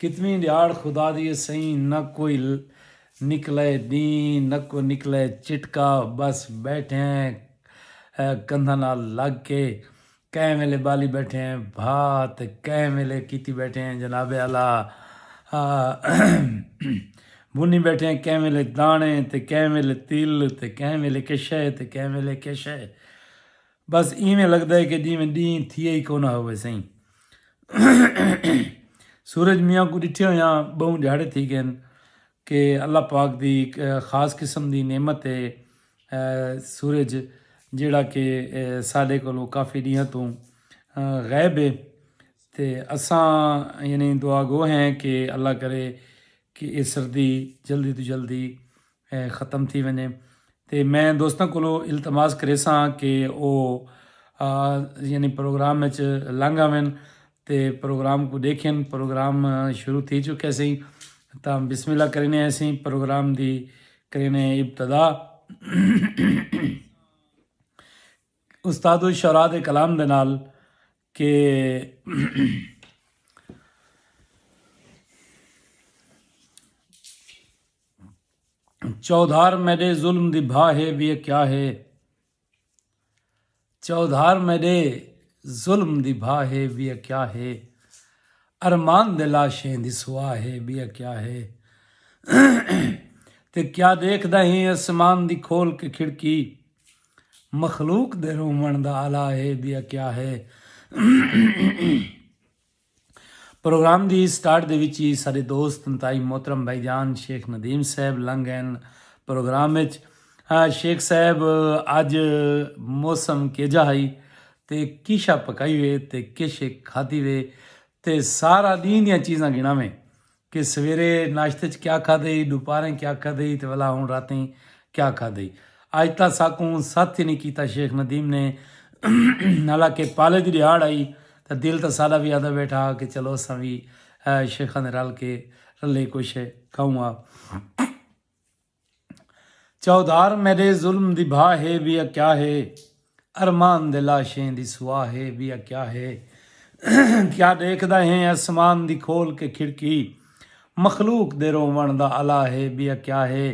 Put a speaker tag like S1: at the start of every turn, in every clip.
S1: کتنی ڈیاڑ خدا دی اے سئیں نہ کوئی نکلئے ڈینہہ نہ کو نکلئے چٹکا بس بیٹھے ہیں کندھاں نال لگ کے کہیں ویلے بالی بیٹھے ہیں بھا تے کہیں ویلے کیتی بیٹھے ہیں جناب اعلی بھنی بیٹھے ہیں کہیں ویلے دانے تے کہیں ویلے تل تے کہیں ویلے کے شئے تے کہیں ویلے کے شئے۔ بس ایویں لگدا ہے کہ جیویں ڈینہہ تھیا ہی کوناں ہووے سئیں۔ سورج میاں کوں ڈٹھے ہویاں بہوں ڈھیاڑے تھی گئن کہ اللہ پاک دی ہک خاص قسم دی نعمت ہے سورج جیہڑا کہ ساڈے کولوں کافی ڈینہاں توں غائب ہے تے اساں یعنی دعا گو ہیں کہ اللہ کرے کہ ایہ سردی جلدی توں جلدی ختم تھی ونجے تے میں دوستاں کولو التماس کریساں کہ او یعنی پروگرام وچ لنگ آون تے پروگرام کو ڈیکھن پروگرام شروع تھی چکے سی تاں بسم اللہ کرینے ایسی پروگرام دی کرینے ابتدا استاد الشعراء دے کلام دے نال کہ چودھار میڈے ظلم دی بھا ہے وی کیا ہے چودھار میڈے ظلم دی بھا ہے وی کیا ہے ارمان دے لاشیں دی سوا ہے وی کیا ہے تے کیا دیکھدا ہیں اسمان دی کھول کے کھڑکی مخلوق دے رووݨ دا آلہ اے ٻیا کیا ہے۔ پروگرام دی سٹارٹ دے وچ ای ساݙے دوست انتہائی محترم بھائی جان شیخ ندیم صاحب لنگ ڳئن پروگرام وچ۔ شیخ صاحب اڄ موسم کیجھا ہئی تے کیشا پکائی وے تے کیشے کھاتی وے تے سارا ݙینہہ دیاں چیزاں ڳݨاویں۔ کہ سویرے ناشتے اچ کیا کھادے ہی، ڈوپاریں کیا کھادے ہی تے ولا ہن راتیں کیا کھادے ہی۔ اج تاں ساکوں ست ہی نی کیتا شیخ ندیم نے حالاں کہ پالے دی ڈیہاڑ ہئی تاں دل تاں ساڈا وی آہدا بیٹھا ہا کہ چلو اساں وی شیخاں دے رل کے رلے کجھ کھاؤں ہا۔ چوہدار میڈے ظلم دی بھا ہے وی اے کیا ہے ارمان دے لاشیں دی سوا ہے وی اے کیا ہے کیا ڈیکھدا ہیں اسمان دی کھول کے کھڑکی مخلوق دے روون دا الا ہے وی اے کیا ہے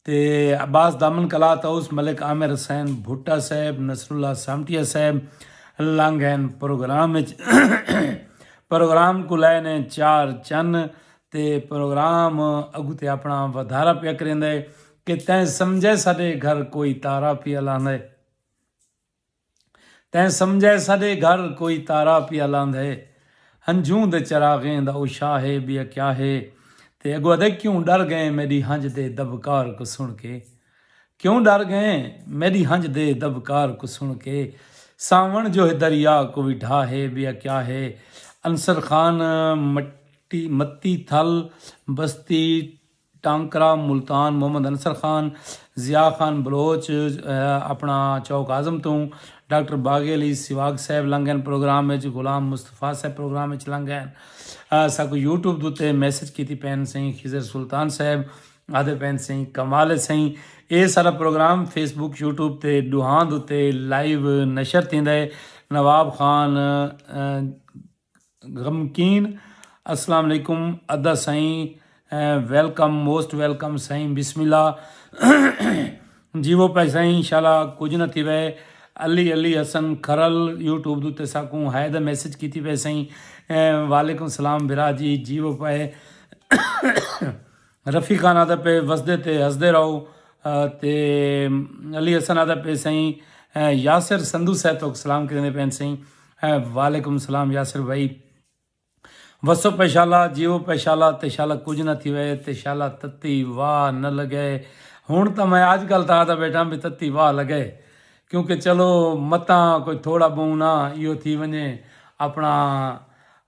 S1: تے عباس دامن کلا طاؤس ملک عامر حسین بھٹہ صاحب نصر اللہ سامٹیا صاحب لانگھین پروگرام وچ پروگرام کو لے نے چار چن تے پروگرام اگتے اپنا ودھارا پیا کریندا ہے کہ تیں سمجھے ساڈے گھر کوئی تارا پیا لاندا ہے تیں سمجھے ساڈے گھر کوئی تارا پیا لاندا ہے ہنجھوں دے چراغیں دا او شاہ ہے بیا کیا ہے تے اگو ادے کیوں ڈر گئے میڈی ہنج دے دبکار کو سن کے کیوں ڈر گئے میڈی ہنج دے دبکار کو سن کے ساون جو ہے دریا کو بھی ڈھا ہے بیا کیا ہے انصر خان مٹ متی تھل، بستی ٹانکرہ، ملتان محمد انصر خان، ضیاء خان بلوچ اپنا چوک اعظم توں، ڈاکٹر باغی علی سواگ صاحب لنگھ گئن پروگرام وچ، غلام مصطفی صاحب پروگرام وچ لنگھ گئن، ساکوں یوٹیوب دوتے میسج کیتی پئن سئیں خضر سلطان صاحب آدھے پئن سئیں کمال ہے سئیں اے سارا پروگرام فیس بک یوٹیوب تے ڈوہاں دوتے لائیو نشر تھیندا ہے نواب خان، غمکین اسلام علیکم ادا سائیں ویلکم موسٹ ویلکم سائیں بسم اللہ جیو پہ سائیں انشاءاللہ کچھ نہ تھی وے علی علی حسن کھرل یوٹیوب دو تے ساکوں ہائے دا میسج کیتی پہ سائیں وعلیکم السلام برا جی جیو پہ رفیقان آدھا پئے وسدے تے ہسدے رہو تے علی حسن آدھا پئے سائیں یاسر سندھو صاحب توک سلام کریندے پین سائیں وعلیکم السلام یاسر بھائی وسو پہ شالا جیو پہ شالا تے شالا کچھ نہ تھی وے تے شالا تتی واہ نہ لگے ہن تاں میں اج کل تاں آدھا بیٹھا بھی تتی واہ لگے کیونکہ چلو متاں کوئی تھوڑا بہونا ایو تھی ونجے اپنا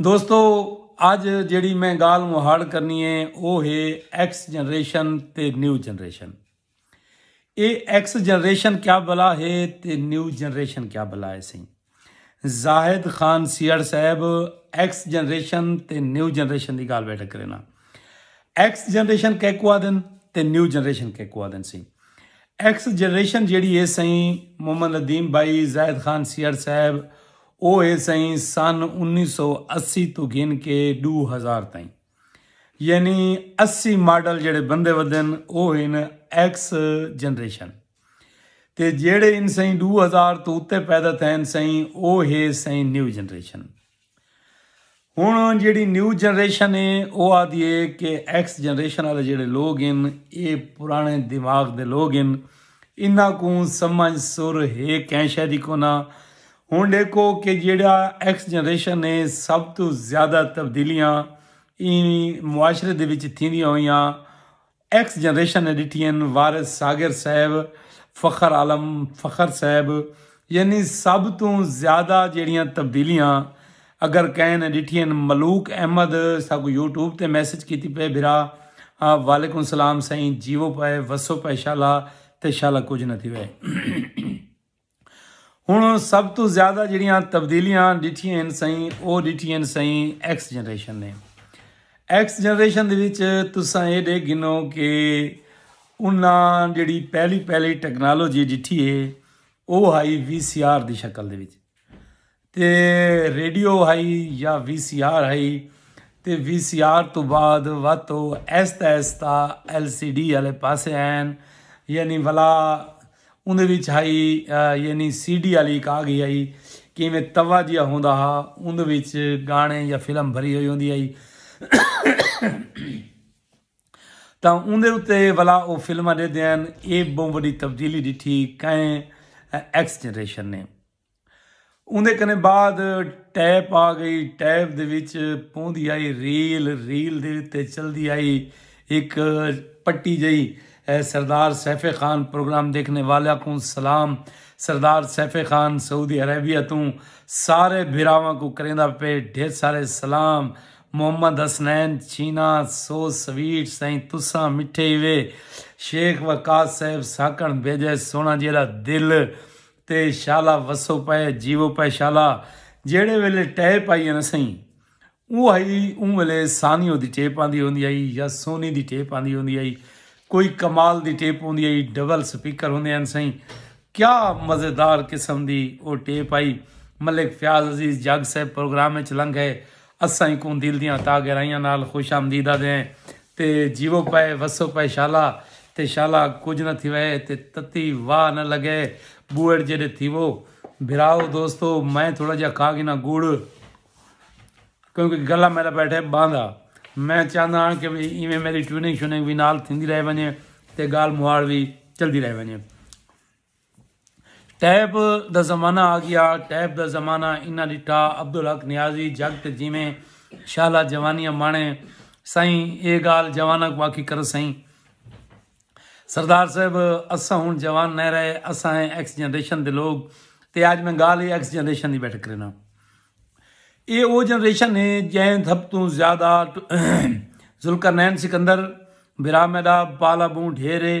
S1: دوستو اج جیڑی میں گال مہاڑ کرنی ہے وہ ہے ایکس جنریشن تے نیو جنریشن اے ایکس جنریشن کیا بلا ہے تے نیو جنریشن کیا بلا ہے سی زاہد خان سیڑ صاحب ایکس جنریشن تے نیو جنریشن دی گال بیٹھا کرنا ایکس جنریشن کہہ کو آدن تے نیو جنریشن کہہ کو آدن سی ایکس جنریشن جیڑی ہے سی محمد ندیم بھائی زاہد خان سیڑ صاحب او اے سئیں سن انیس سو اسی توں گھن کے ݙو ہزار تئیں یعنی اسی ماڈل جیڑھے بندے ودھن او ہن ایکس جنریشن تے جیڑھے ہن سئیں ݙو ہزار توں اتے پیدا تھئن سئیں او ہے سئیں نیو جنریشن ہݨ جیڑھی نیو جنریشن اے او آہدی اے کہ ایکس جنریشن آلے جیڑھے لوگ ہن اے پراݨے دماغ دے لوگ ہن انہاں کوں سمجھ سر ہے کہیں شے دی کونا ہݨ ݙیکھو کہ جیڑھا ایکس جنریشن اے سب توں زیادہ تبدیلیاں ایں معاشرے دے وچ تھیندیاں ہوئیاں۔ ایکس جنریشن نے ڈٹھی ہن وارث ساغر صاحب، فخر عالم فخر صاحب یعنی سب توں زیادہ جیڑھیاں تبدیلیاں اگر کہیں نے ڈٹھی ہن ملوک احمد ساکوں یوٹیوب تے میسج کیتی پئے بھرا وعلیکم سلام سائیں جیوو پائے وسو پائے شالا تے شالا کجھ نہ تھیوے۔ ہنڑ سب توں زیادہ جیہڑیاں تبدیلیاں ڈٹھیاں ہن سئیں او ڈٹھیاں سئیں ایکس جنریشن نے ایکس جنریشن دے وچ تساں اے ڈے گنو کہ انہاں جیہڑی پہلی پہلی ٹیکنالوجی ڈٹھی ہے او ہائی وی سی آر دی شکل دے وچ تے ریڈیو ہئی یا وی سی آر ہئی تے وی سی آر تو بعد وت او ایستا ایستا ایل سی ڈی والے پاسے آئن یعنی ولا اندر وچ ہئی یعنی سی ڈی والی ایک آ گئی ہئی کہ میں توا جیا ہوندا ہا اندر وچ گانے یا فلم بھری ہوئی ہوندی ہئی تا اندر اتے ولا او فلم دے دین اے بہت بڑی تبدیلی ڈٹھی کئے ایکس جنریشن نے اوندے کنے بعد ٹیپ آ گئی ٹیپ دے وچ پوندی آئی ریل ریل دے اتے چلدی آئی ایک پٹی جئی سردار سیف خان پروگرام دیکھنے والا کوں سلام سردار سیف خان سعودی عربیہ توں سارے بھراواں کو کریندا پے ڈھیر سارے سلام محمد حسنین چھینا سو سویٹ سائیں تساں مٹھے ایوے شیخ وقاص صاحب ساکن بھیجے سونا جیڑا دل تے شالا وسو پئے جیو پئے شالا جیڑے ویلے ٹیپ آئی نا سہی اوں ہئی اوں ویلے سانیو دی ٹیپ آندی ہوندی آئی یا سونی دی ٹیپ آندی ہوندی آئی کوئی کمال دی ٹیپ ہوندی آئی ڈبل سپیکر ہوندے ہیں سہی کیا مزیدار قسم دی او ٹیپ آئی ملک فیاض عزیز جگ صاحب پروگرام وچ لنگ ہے اساں ایکوں دل دیاں تاہ گہرائیاں نال خوش آمدید آدھے ہیں تے جیوو پئے وسو پئے شالا تے شالا کجھ نہ تھیوئے تے تتی واہ نہ لگئے بوئڑ جیڈے تھیوو بھراؤ دوستو میں تھوڑا جیا کھا گھناں گڑ کیونکہ گلا میرا بیٹھے باندھا میں چاہندہ ہاں کہ بھی ایویں میری ٹیوننگ شوننگ بھی نال تھیندی رہ ونجے تے گال مہاڑ بھی چلدی رہ ونجے ٹیپ دا زمانہ آ گیا ٹیپ دا زمانہ انہاں ڈٹھا عبدالحق نیازی جگ تے جیویں شالا جوانیاں مانے سئیں اے گالھ جواناں کوں آکھی کرو سئیں سردار صاحب اساں ہن جوان نئیں رہے اساں ہیں ایکس جنریشن دے لوگ تے اج میں گالھ ایکس جنریشن دی بیٹھ کرینا اے او جنریشن ہے جیں سب توں زیادہ ذوالقرنین سکندر برا میڈا پالا بوں ڈھیرے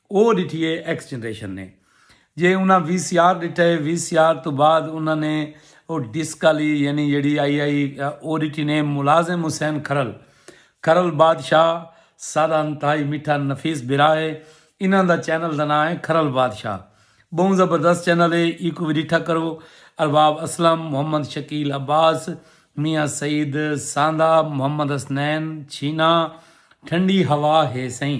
S1: او ڈٹھی اے ایکس جنریشن نے جے انہاں وی سی آر ڈٹھا اے وی سی آر توں بعد انہاں نے او ڈسک آلی یعنی جیڑھی آئی آئی او ڈٹھی نے ملازم حسین کھرل کھرل بادشاہ سادہ انتہائی میٹھا نفیس بھرا اے انہاں دا چینل دا ناں اے کھرل بادشاہ بہوں زبردست چینل اے ایکوں وی ڈٹھا کرو ارباب اسلم محمد شکیل عباس میاں سعید ساندہ محمد حسنین چھینا ٹھنڈی ہوا ہے سئیں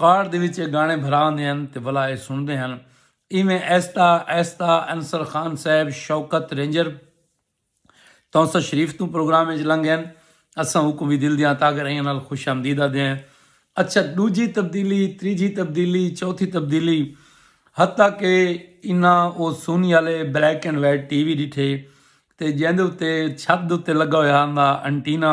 S1: کار دے وچ اے گانے بھرا ہوندے ہن تے ولا اے سنڑدے ہن۔ ایویں آہستہ آہستہ انصر خان صاحب شوکت رینجر تونسہ شریف توں پروگرام اچ لنگ گئن۔ اساں اوکوں وی دل دیاں تاگر ایاں نال خوش آمدید آدھے ہیں۔ اچھا ڈوجھی تبدیلی، تریجھی تبدیلی، چوتھی تبدیلی حتی کہ انہاں او سونی آلے black and white T V ڈٹھے تے جیندے اتے چھت دے اتے لگا ہویا ہوندا انٹینا۔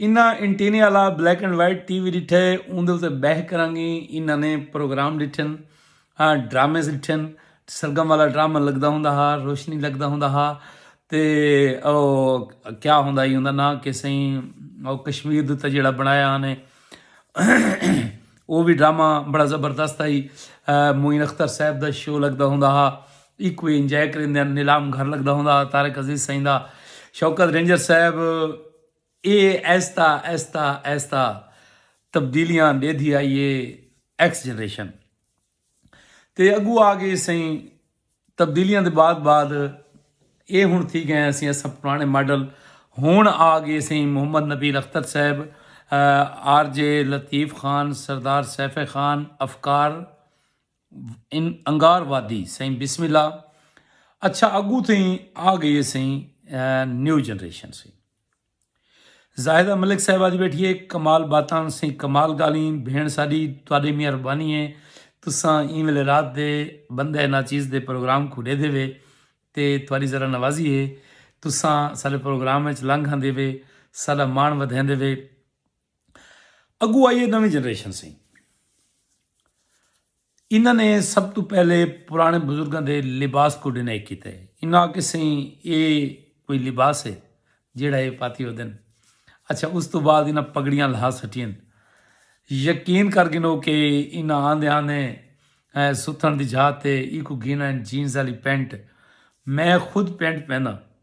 S1: انہاں اینٹینے آلا black and white T V ڈٹھے اوندے اتے بہہ کرانگی انہاں نے پروگرام ڈٹھن ڈرامے ڈٹھن سرگم والا ڈرامہ لگدا ہوندا ہا روشنی لگدا ہوندا ہا تے او کیا ہوندا ہی ہوندا نا کہ سائیں او کشمیر دے تے جڑا بنایا نے او بھی ڈرامہ بڑا زبردست ہی معین اختر صاحب دا شو لگدا ہوندا ہا ایکو انجوائے کریندے نیلام گھر لگدا ہوندا ہا طارق عزیز سائیں دا شوکت رینجر صاحب اے آہستہ آہستہ آہستہ تبدیلیاں ڈیدھی آئی اے ایکس جنریشن تے اگو آ گئی سئیں تبدیلیاں دے بعد بعد اے ہن تھی گئے اسیں اساں پرانے ماڈل ہن آ گئے سئیں محمد نبیل اختر صاحب آر جے لطیف خان سردار سیف خان افکار ان انگار وادی سائیں بسم اللہ اچھا اگو تھیں آ گئی سائیں نیو جنریشن سی زاہدہ ملک صاحب آج بیٹھی ہے کمال باتاں سائیں کمال گالیں بھین ساڈی تواڈے مہربانی ہے تساں این ویلے رات دے بندہ نا چیز دے پروگرام کو دے دے وے تے تواڈی ذرا نوازی ہے تساں سارے پروگرام وچ لنگ ہندے وے سارا مان ودھیندے وے اگو آئی ہے نویں جنریشن سی انہاں نے سب تو پہلے پرانے بزرگاں دے لباس کو ڈینائی کیتا ہے انہاں آکے سین اے کوئی لباس ہے جیڑا اے پاتی ہو دن اچھا اس تو بعد انہاں پگڑیاں لہا سٹین یقین کر گنو کہ انہاں آن دے آن دے ستھن دی جھاتے ایکو گینا جینز آلی پینٹ میں خود پینٹ پہنا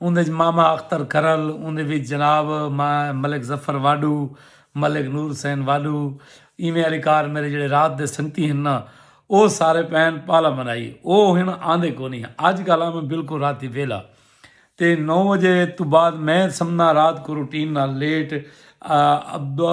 S1: اوندے وچ ماما اختر کرل، اوندے وچ جناب ملک ظفر واڈو، ملک نور حسین واڈو، ایویں آلے کار میرے جیڑھے رات دے سنگتی ہن نا او سارے پین پالا منائی او ہن آندے کونی ہن اج کل آ میں بالکل راتی ویلا تے نو وجے تو بعد میں سمنا رات کو روٹین نال لیٹ ابا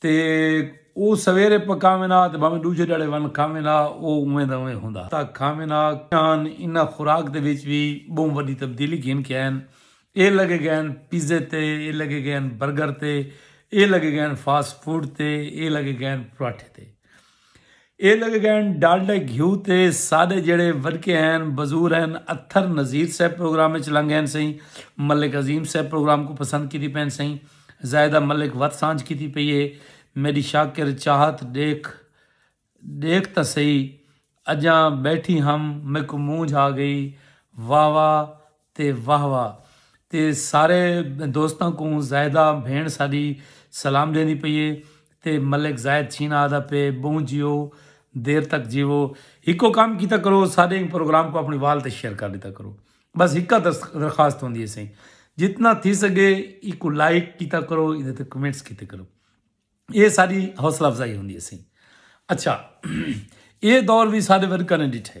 S1: تے او سویرے پکاوین ہا تے بھانویں ڈوجھے ڈھاڑے ون کھاوین ہا او اونویں دا اونویں ہوندا ہا کھاوین ہا۔ ہن انہاں خوراک دے وچ وی بہوں وڈی تبدیلی گھن کے آئین اے لگے گئے ہن پیزے تے اے لگے گئے ہن برگر تے اے لگے گئے ہن فاسٹ فوڈ تے اے لگے گئے ہن پراٹھے تے۔ اے لگے گئن ڈالڈے گھیو تے ساڈے جیڑے وڈکے ہین بزور ہین اتھر نذیر صاحب پروگرام اچ لنگ ہین سئیں ملک عظیم صاحب پروگرام کوں پسند کیتی پین سئیں زاہدہ ملک وت سانجھ کیتی پئی اے میڈی شاکر چاہت ڈیکھ ڈیکھ تاں سئی اجاں بیٹھی ہم میکوں مونجھ آ گئی واہ واہ تے واہ واہ تے سارے دوستاں کوں زاہدہ بھینڑ ساڈی سلام ڈیندی پئی اے تے ملک زاہد چھینا آہدا پئے بہوں جیو دیر تک جیوو ہکو کم کیتا کرو ساڈے ایں پروگرام کوں اپنڑے وال تے شیئر کر ڈیتا کرو بس ہکا درخواست ہوندی اے سائیں جتنا تھی سگے ایکوں لائک کیتا کرو ایندے تے کمنٹس کیتے کرو اے ساڈی حوصلہ افزائی ہوندی اے سائیں اچھا اے دور وی ساڈے ورکاں نے ڈٹھے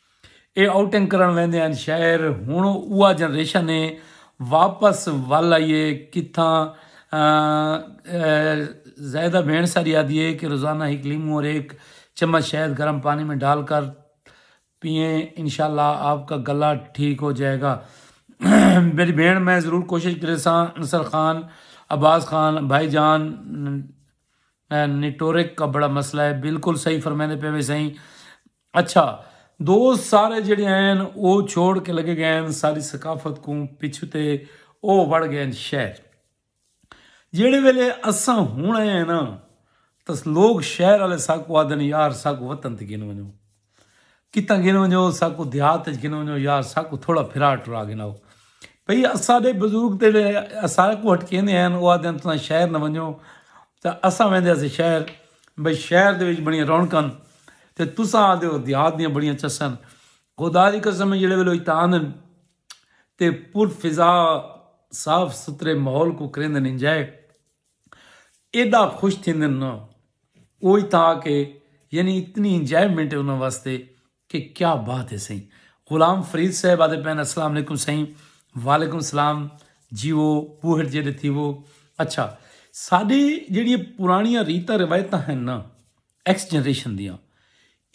S1: اے آؤٹنگ کرݨ ویندے ہن شاعر ہݨ اوہا جنریشن اے واپس ول آئی اے کتھاں زاہدہ بھیݨ ساری آہدی اے کہ روزانہ ہک لیموں اور ایک چمچ شہد گرم پانی میں ڈال کر پئیں انشاءاللہ آپ کا گلا ٹھیک ہو جائے گا میݙی بھیݨ میں ضرور کوشش کریساں انصر خان عباس خان بھائی جان نیٹورک کا بڑا مسئلہ اے بالکل صحیح فرمیندے پئے وے سئیں اچھا دوست سارے جڑے ہین او چھوڑ کے لگے گئے ہین ساری ثقافت کوں پچھو تے او وڑ گئے ہین شہر جیڑے ویلے اساں ہن آئے ہیں نا تس لوگ شہر والے ساکو آدن یار ساکو وطن تے گن ونجو کتاں گن ونجو ساکو دیہات وچ گن ونجو یار ساکو تھوڑا پھرا ٹرا گناؤ بھئی اساڈے بزرگ تے سارے کو ہٹکیندے ہیں او آدن تساں شہر نہ ونجو تے اساں ویندے اسے شہر بھئی شہر دے وچ بڑیاں رونقاں ہن تے تساں آہدے ہو دیہات دیاں بڑیاں چساں ہن۔ خدا دی قسم ہے جیڑھے ویلے او اتھاں آندن تے پر فضا صاف ستھرے ماحول کوں کریندن انجوائے ایڈا خوش تھیندن نا او اتھاں آ کے یعنی اتنی انجوائمنٹ ہے انہاں واسطے۔ کہ کیا بات ہے سائیں غلام فرید صاحب آدھے پین السلام علیکم سائیں وعلیکم السلام جیو بوہٹ جیڈے تھیو اچھا ساڈے جیڑی پرانیاں ریتاں روایتاں ہیں نا ایکس جنریشن دیاں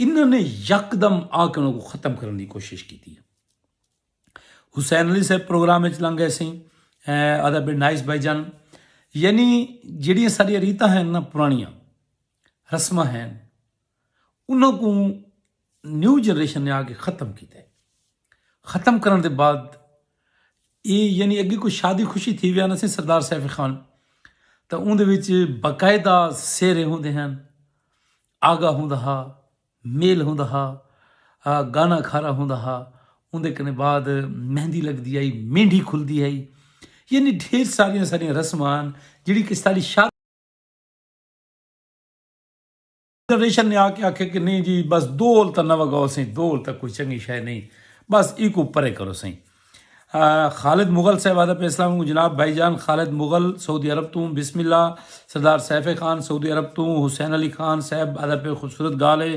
S1: انہاں نے یکدم آ کے انہاں کو ختم کرن دی کوشش کیتی ہے حسین علی صاحب پروگرام وچ لنگ گئے سائیں آدھا بے نائس بھائی جان یعنی جیڑی ساری ریتاں ہیں نا پرانیاں رسماں ہین انہاں کوں نیو جنریشن نے آکے ختم کیتے ختم کرن دے بعد اے یعنی اگے کوئی شادی خوشی تھی ویا نہ سی سردار سیف خان تا اون دے وچ باقاعدہ سیرے ہوندے ہیں آگا ہوندا ہا میل ہوندا ہا گانا کھارا ہوندا ہا اون دے کنے بعد مہندی لگ دی آئی مینڈی کھل دی آئی یعنی ڈھیر ساریاں ساریاں رسمان جڑی کس تالی شادی فیڈریشن نے آ کے آکھیا کہ نئیں جی بس دو ہول تاں نہ وگاؤ سئیں دو ہول تاں کوئی چنگی شے نئیں بس ایکوں پرے کرو سئیں خالد مغل صاحب آدھا پئے اسلام علیکم جناب بھائی جان خالد مغل سعودی عرب توں بسم اللہ سردار سیف خان سعودی عرب توں حسین علی خان صاحب آدھا پئے خوبصورت گالھ اے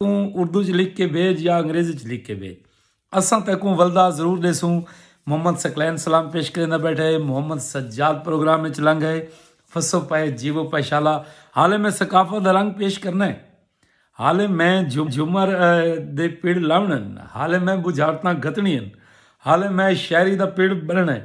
S1: توں اردو وچ لکھ کے بھیج یا انگریزی وچ لکھ کے بھیج اساں تیکوں ولدا ضرور ڈیسوں محمد ثقلین سلام پیش کریندا بیٹھے محمد سجاد پروگرام وچ لنگ ہے فسو پائے جیو پائے شالا حالے میں ثقافت دا رنگ پیش کرنا ہے حالے میں جھمر دے پڑ لاونے حالے میں بجھارتاں گھتنی ہیں حالے میں شاعری دا پڑ بننا ہے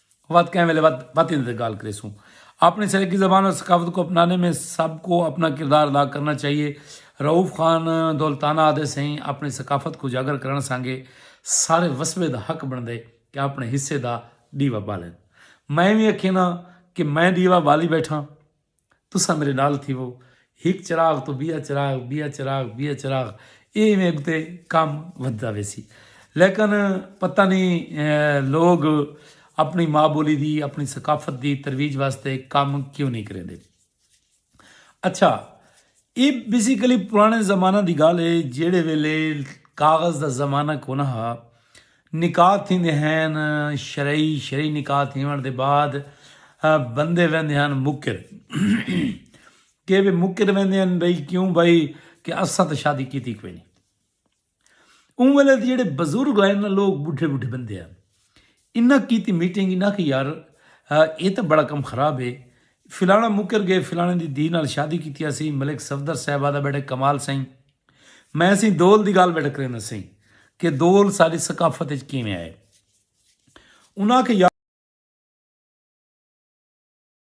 S1: وت کہیں ویلے وت وت ایندے تے گالھ کریسوں۔ اپنی سرائیکی زبان اور ثقافت کو اپنانے میں سب کو اپنا کردار ادا کرنا چاہیے، رؤف خان دولتانہ آدھے سئیں اپنی ثقافت کوں اجاگر کرݨ سانگے سارے وسبے دا حق بݨدے کہ اپنے حصے دا ݙیوا ٻالن۔ میں وی اکھینداں کہ میں ݙیوا ٻالی ٻیٹھاں۔ تساں میݙے نال تھیوو۔ ہک چراغ توں ٻیا چراغ، ٻیا چراغ، ٻیا چراغ ایویں اڳتے کم ودھدا ویسی۔ لیکن پتہ نی لوک اپݨی ماء ٻولی دی، اپݨی ثقافت دی ترویج واسطے کم کیوں نی کریندے۔ اچھا اے بیسیکلی پرانے زمانہ دی گال ہے جیڑے ویلے کاغذ دا زمانہ کونا ہا نکاح تھیندے ہن شرعی شرعی نکاح تھیون دے بعد بندے ویندے ہن مکر کہ مکر ویندے ہن بھئی کیوں بھئی کہ اساں تے شادی کیتی کوئی نہیں اوں ویلے تے جیڑھے بزرگ آئے نا لوگ بڈھے بڈھے بندے آن انہاں کیتی میٹنگ انہاں کہ یار اے تاں بڑا کم خراب ہے فلانا مکر گئے فلانے دی دھی نال شادی کیتی اسی ملک صفدر صاحب آدھا بیٹھے کمال سائیں میں سی دول دی گال بیٹھے کریں سی کہ دول ساری ثقافت اچ کیویں آئے انہاں کہ یار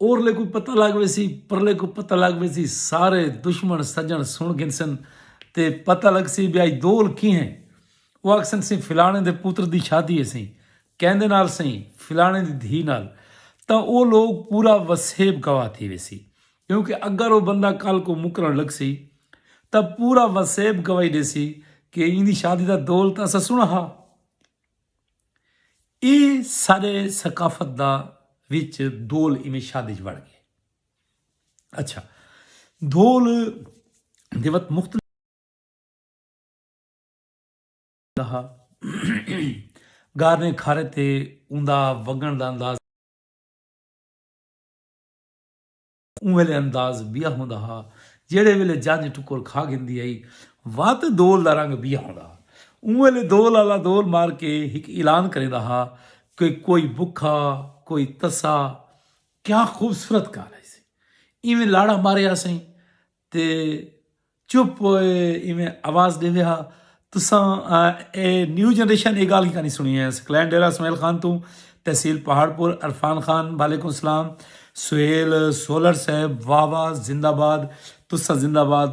S1: اورلے کوں پتہ لگ ویسی پرلے کوں پتہ لگ ویسی سارے دشمن سجن سن گھنسن تے پتہ لگسی بیا ای دول کی ہیں او آکھسن سی فلانے دے پتر دی شادی ہے سی کیندے نال سی فلانے دی دھی نال تا او لوگ پورا وسیب گوا تھی ویسی کیونکہ اگر او بندہ کل کو مکرن لگسی تا پورا وسیب گواہی دیسی کہ ایندی شادی دا دول تا اسا سنا ہا اے سارے ثقافت دا وچ دھول ایویں شاد وچ وڑ گئے۔ اچھا دھول دے وت مختلف ہا گارنے کھارے تے اوندا وگن دا انداز اوں ویلے انداز بیا ہوندا ہا جیڑھے ویلے جنج ٹکر کھا گھندی ہئی وا تے دول دا رنگ بیا ہوندا ہا۔ اوں ویلے دول آلا دول مار کے ہک اعلان کریندا ہا کہ کوئی بکھا کوئی تسا کیا خوبصورت کار ہئی سی ایویں لاڑا مارے آسئیں تے چپ ہوئے ایویں آواز ڈیندے ہا تساں اے نیو جنریشن اے گالھ کیکاں نی سنڑی اے اس کلین ڈیرہ اسماعیل خان توں تحصیل پہاڑ پور عرفان خان وعلیکم السلام سہیل سولر صاحب واہ واہ زندہ باد تساں زندہ باد۔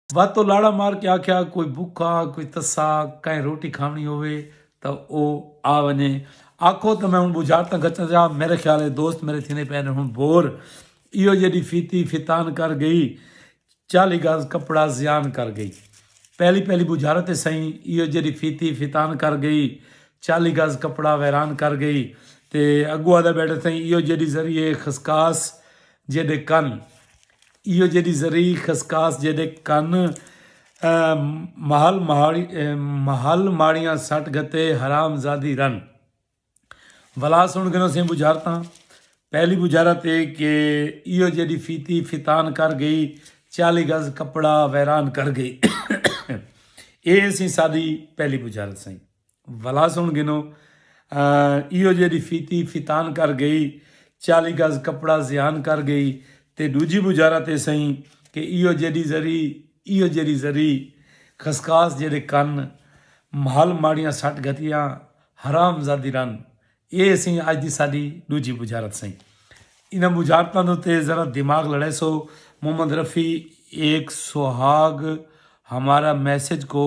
S1: واتو لاڑا مار کے آکھیا کوئی بکھا کوئی تسا کہیں روٹی کھاونی ہووے تاں او آ ونجے آکھو تاں میں ہن بجھارتاں گچھاں جا میرے خیال اے دوست میرے تھیندے پئے نے ہن بور ایہو جیڈی فیتی فتان کر گئی چالی گز کپڑا زیان کر گئی پہلی پہلی بجھارت اے سئیں ایہو جیڈی فیتی فتان کر گئی چالی گز کپڑا ویران کر گئی تے اگو آدھا بیٹھے سئیں ایہو جیڈی ذریعے خسکاس جیڈے کن ایہو جیڈی زرعی خسکاس جیڈے کن مہل مہل ماڑیاں سٹ گھتے حرام زادی رن ولا سن گنو سیں بجھارتاں پہلی بجھارت اے کہ ایہو جیڈی فیتی فتان کر گئی چالی گز کپڑا ویران کر گئی اے سیں سادی پہلی بجھارت سیں ولا سن گھنو ایہو جیڑھی فیتی فتان کر گئی چالی گز کپڑا زیان کر گئی تے ڈوجھی بجارت اے سئیں کہ ایہو جیڑھی زری ایہو جیڑھی زری خسخاس جیڑھے کن مھل ماڑیاں سٹ گھتیاں حرام زادی رن اے سئیں اج دی ساڈی ڈوجھی بجارت سئیں انہاں بجارتاں دے تے ذرا دماغ لڑے سو محمد رفیع ایک سہاگ ہمارا میسج کو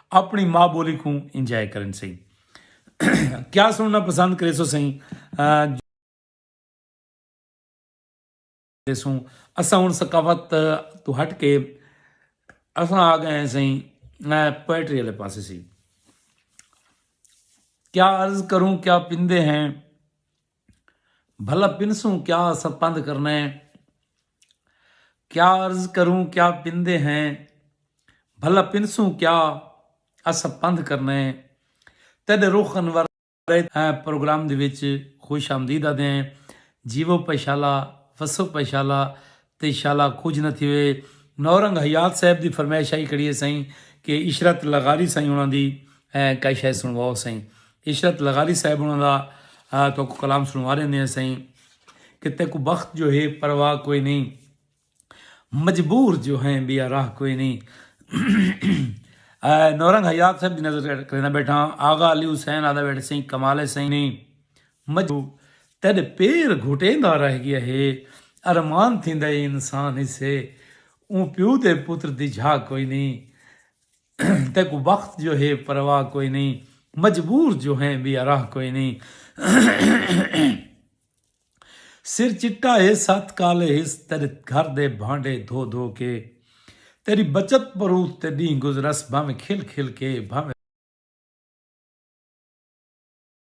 S1: اپݨی ماء ٻولی کوں انجوائے کرن سئیں کیا سݨݨا پسند کریسو سئیں جو سوں اساں ہن ثقافت تو ہٹ کے اساں آ گئے ہیں سائیں میں پوئٹری والے پاس سی کیا عرض کروں کیا پندے ہیں بھلا پنسوں کیا اساں پندھ کرنے کیا عرض کروں کیا پندے ہیں بھلا پنسوں کیا اساں پندھ کرنے تیڈے رخ انور پروگرام دے وچ خوش آمدید آدھے ہیں جیو پشالا وسو پشالا تے انشاءاللہ کجھ نہ تھیوے۔ نورنگ حیات صاحب دی فرمائش آئی کھڑی ہے سئیں کہ عشرت لغاری سئیں انہاں دی کئی شے سنڑواؤ سئیں۔ عشرت لغاری صاحب انہاں دا تہاکوں کلام سنڑوا ݙیندے ہیں سئیں کہ تیکوں بخت جو ہے پرواہ کوئی نئیں مجبور جو ہیں ٻیا راہ کوئی نئیں۔ نورنگ حیات صاحب دی نظر کرینداں ٻیٹھاں آغا علی حسین آہدا ٻیٹھے سئیں کمال ہے سئیں۔ مجو تیڈے پیر گھٹیندا رہ گیا ہے ارمان تھیندا اے انسان ہسے اوں پیو دے پتر دی جھا کوئی نی تیکوں وقت جو ہے پرواہ کوئی نی مجبور جو ہیں بی اراہ کوئی نی سر چٹا ہے ست کالے ہس تیڈے گھر دے بھانڈے دھو دھو کے تیڈی بچت پروت تے ڈینہہ گزرس بھانویں کھل کھل کے بھانویں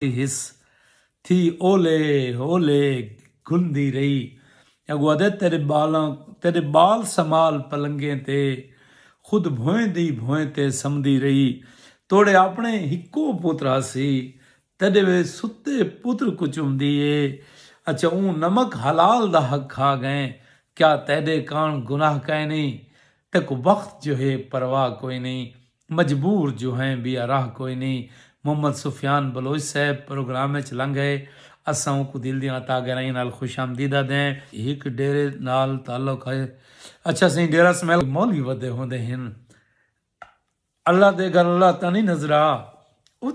S1: ڈیندی ہس تھی اولے اولے گھلدی رہی اگو آدھے تیڈے بالاں تیڈے بال سمال پلنگیں تے خود بھوئیں دی بھوئیں تے سمدی رہی توڈے آپنے ہکو پتر ہاسی تیڈے وے ستے پتر کو چمدی اے اچھا اوں نمک حلال دا حق کھا گئیں کیا تیڈے کان گناہ کائنی تیکو بخت جو ہے پرواہ کوئنی مجبور جو ہیں بیا راہ کوئی نی محمد سفیان بلوچ صاحب پروگرام اچ لنگھ ائے اساں اونکوں دل دیاں عطا گہرائیاں نال خوش آمدید آدھیں۔ ہک ڈیرے نال تعلق ہئ۔ اچھا سئیں ڈیرہ اسماعیل کوں مولوی ودے ہوندے ہن اللہ دے گھر اللہ تاں نی نظرا ات۔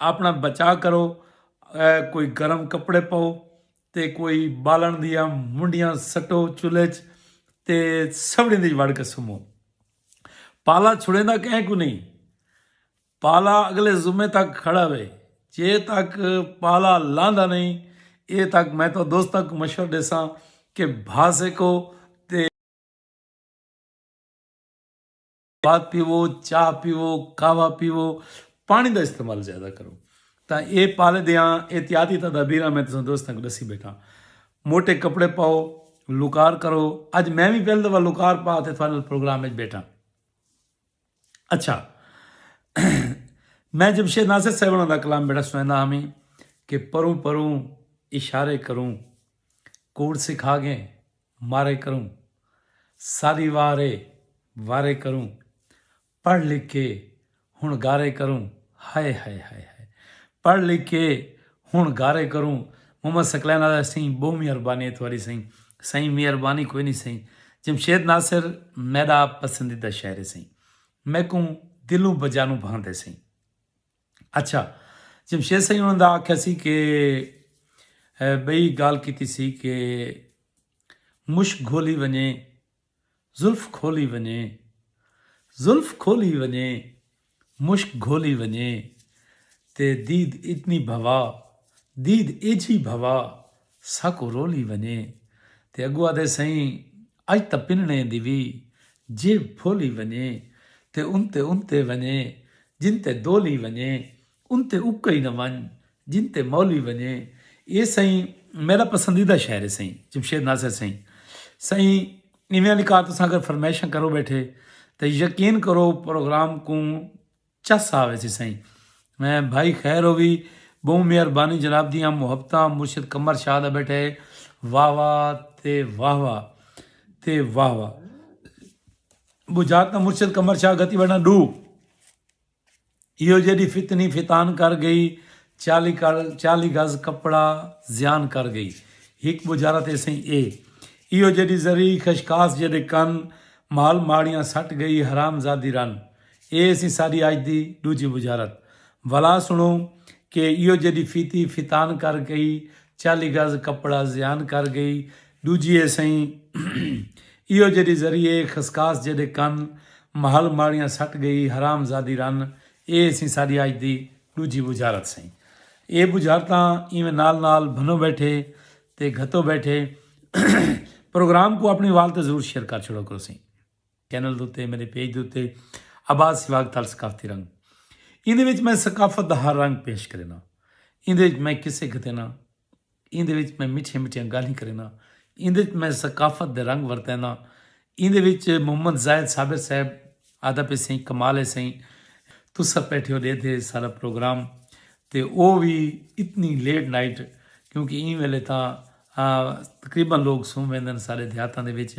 S1: اپنا بچا کرو کوئی گرم کپڑے پاؤ تے کوئی بالن دیا منڈیاں سٹو چولہے چ تے سبڑی دی وڑ کے سمو پالا چھڑے دا کہیں کو نہیں پالا اگلے زمے تک کھڑا ہوئے جے تک پالا لاندا نہیں اے تک میں تو دوستہ کو مشور دے ساں کہ بھاسے کو پاک پیوو چاہ پیوو قہوہ پیوو پانی دا استعمال زیادہ کرو تاں اے پالے دیاں احتیاطی تدابیراں میں تساں دوستاں کو ڈسی بیٹھاں موٹے کپڑے پاؤ لوکار کرو اج میں وی پہل دفعہ لوکار پا تے تھانل پروگرام وچ بیٹھاں اچھا میں جمشید ناصر صاحب دا کلام بیٹا سنائندا ہاں کہ پروں پروں اشارے کروں کوڑ سکھا گئے مارے کروں ساری وار اے وارے کروں پڑھ لکھ کے ہن گارے کروں ہائے ہائے ہائے ہائے پڑھ لکھ کے ہن گارے کروں محمد ثقلین آدھا سئیں بہوں مہربانی اے تہاڈی سئیں سئیں مہربانی کوئی نی سئیں جمشید ناصر میڈا پسندیدہ شاعر اے سئیں میکوں دلوں بجانوں بھاندے سئیں۔ اچھا جمشید سائیں انہوں نے آکھا سی کہ بئی گال کیتی سی کہ مشک گھولی ونجے زلف کھولی ونجے زلف کھولی ونجے مشک گھولی ونجے تے دید اتنی بھوا دید ایجھی بھوا ساکوں رولی ونجے تے اگو آدھے سئیں اج تاں پنڑیں دی وی جیب پھولی ونجے تے انتے انتے ونجے جن تے دولی ونجے انتے اکئی نہ ونج جن تے مولی ونجے اے سئیں میڈا پسندیدہ شعر ہے سئیں جمشید ناصر سئیں سئیں ایویں آلی کا تساں اگر فرمائشاں کرو بیٹھے تے یقین کرو پروگرام کوں چس آ ویسی سئیں بھائی خیر ہووی بہوں مہر بانی جناب دیاں محبتاں مرشد قمر شاہ دا بیٹا ہے واہ واہ تے واہ واہ تے واہ واہ بجاک دا مرشد قمر شاہ گتی بڑھنا ڈو ایو جیڈی فتنی فتان کر گئی چالی چالی گز کپڑا زیان کر گئی ہک بجارا تے سئیں اے ایو جیڈی زری خشکاس جیڈے کن مال ماڑیاں سٹ گئی حرام زادی رن اے ہسی ساڈی اج دی ڈوجھی بجارت۔ ولا سنڑو کہ ایہو جیڈی فیتی فتان کر گئی، چالی گز کپڑا زیان کر گئی، ڈوجھی اے سئیں ایہو جیڈی زری اے خسکاس جیڈے کن، محل ماڑیاں سٹ گئی حرام زادی رن۔ اے ہسی ساڈی اج دی ڈوجھی بجارت سئیں۔ اے بجارتاں ایویں نال نال بھنو بیٹھے تے گھتو بیٹھے۔ پروگرام کوں اپنڑی وال تے ضرور شیئر کر چھوڑو کرو سئیں۔ چینل دے اتے میݙے پیج دے اتے آباد سیواگ تال ثقافتی رنگ ایندے وچ میں ثقافت دا ہر رنگ پیش کرینداں ایندے وچ میں قصے گھتینداں ایندے وچ میں مٹھیاں مٹھیاں گالھیں کرینداں ایندے وچ میں ثقافت دے رنگ ورتینداں ایندے وچ محمد زاہد صابر صاحب آہدا پئے سئیں کمال ہے سئیں تساں پیٹھے ہو ݙے تھے سارا پروگرام تے او وی اتنی لیٹ نائٹ کیونکہ ایں ویلے تاں تقریبا لوگ سم ویندن سارے دیہاتاں دے وچ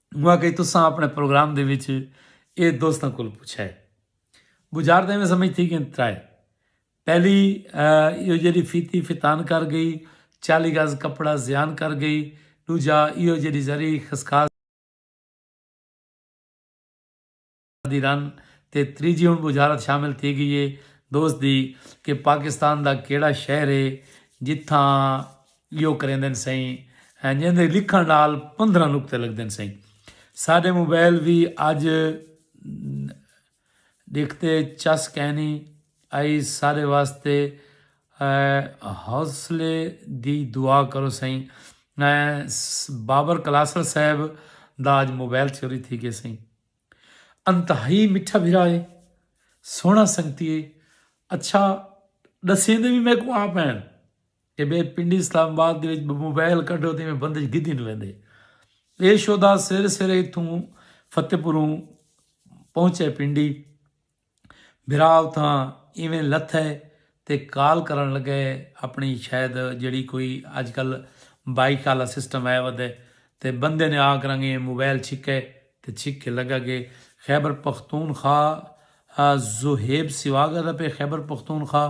S1: انہاں آکھیا تساں اپنڑے پروگرام دے وچ اے دوستاں کولوں پچھیا اے۔ بجار تاں ایویں سمجھ تھی گئن ترائے۔ پہلی ایہو جیہڑی فیتی فتان کر گئی، چالی گز کپڑا زیان کر گئی، ڈوجھا ایہو جیہڑی زرعی خسخاس۔ دی رن تے تریجھی ہن بجھارت شامل تھی گئی اے دوست دی کہ پاکستان دا کیڑھا شہر اے جتھاں ایہو کریندن سئیں ہیں جیندے لکھن نال پندرہ نقطے لگدن سئیں ساڈے موبائل وی اج ڈکھ تے چس کینی ائی ساڈے واسطے حوصلے دی دعا کرو سئیں بابر کلاسر صاحب دا اج موبائل چوری تھی گئے سئیں۔ انتہائی مٹھا بھرا ہے سونا سنگتی ہے اچھا دسیندے بھی میں کو آپ ہیں کہ بے پنڈی اسلام آباد دے وچ موبائل کڈو تے میں بندے گدی نہ ویندے اے شودا سر سر اتھوں فتح پوروں پہنچے پنڈی بھرا اتھاں ایویں لتھئے تے کال کرݨ لڳئے اپݨی شاید جیڑھی کوئی اڄ کل بائیک آلا سسٹم ہے ودے تے بندے نے آ کراں گے موبائل چھکئے تے چھک کے لڳا گے خیبر پختونخوا زوہیب سیواگا دا پئے خیبر پختونخوا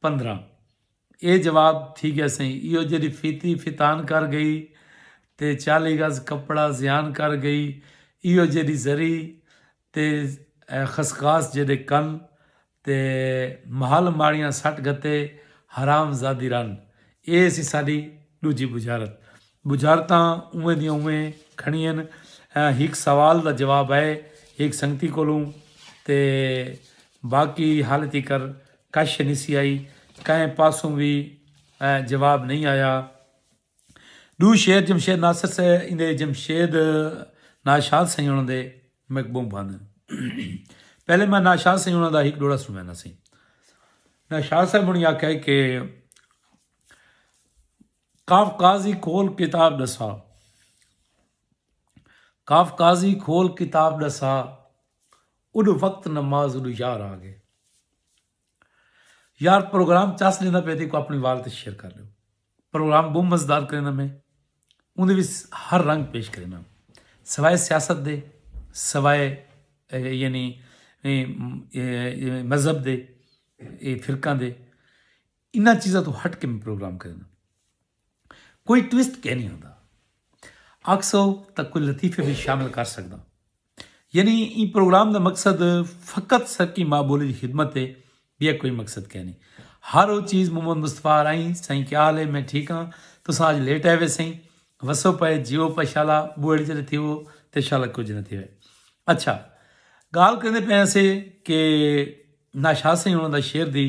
S1: پندرہ اے جواب تھی گیا سئیں ایہو جیڑھی فیتی فتان کر گئی تے چالی گز کپڑا زیان کر گئی ایہو جیڑھی زری تے خسخاس جیڑھے کن تے محل ماڑیاں سٹ گھتے حرام زادی رن اے سی ساڈی ڈوجھی بجھارت بجھارتاں اویں دیاں اویں کھڑیئن ہک سوال دا جواب اے ہک سنگتی کولوں تے باقی ہالے تیکر کش نسی آئی کہیں پاسوں وی جواب نئیں آیا۔ ڈو شعر جمشید ناصر سے ایندے جمشید ناشاد سئیں انہاں دے میک بہوں بھاندن۔ پہلے میں ناشاد سئیں انہاں دا ہک ڈوڑا سنوینا سئیں۔ ناشاد صاحب ہونی آکھیا ہے کہ کاف قاضی کھول کتاب ڈسا کاف قاضی کھول کتاب ڈسا اڈو وقت نماز اڈو یار آ گئے۔ یار پروگرام چس ڈیندا پے تے کو اپنی وال تے شیئر کر لیو۔ پروگرام بہوں مزدار کرینا میں اوندے وچ ہر رنگ پیش کرینا۔ سوائے سیاست دے سوائے یعنی مذہب دے فرقہ دے انہاں چیزاں تو ہٹ کے میں پروگرام کرینا۔ کوئی ٹویسٹ کینی ہوندا آکھسو تاں کوئی لطیفے وی شامل کر سگداں یعنی ایں پروگرام دا مقصد فقط سرکی ماء بولی دی خدمت ہے بیا کوئی مقصد کینی ہر او چیز محمد مصطفی رائی سائیں کیا حال ہے میں ٹھیک ہاں تساں اج لیٹ آئے وے سائیں وسو پائے جیو پشالا بوڑی جڑے تھی وہ تے شالا کچھ نہ تھی وے اچھا گال کریندے پے سے کہ ناشاد سائیں انہاں دا شعر دی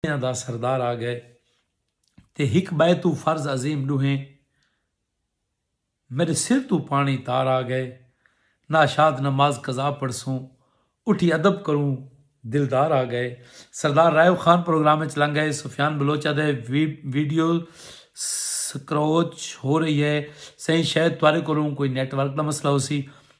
S1: دنیا دا سردار آ گئے تے ہک بئے توں فرض عظیم ڈوہیں میڈے سر توں پانی تار آ گئے ناشاد نماز قضا پڑھسوں اٹھی ادب کروں دلدار آ گئے سردار رائیو خان پروگرام وچ لنگ گئے سفیان بلوچ آدھے ویڈیو سکروچ ہو رہی ہے سئیں شاید تہاڈے کولوں کوئی نیٹ ورک دا مسئلہ ہوسی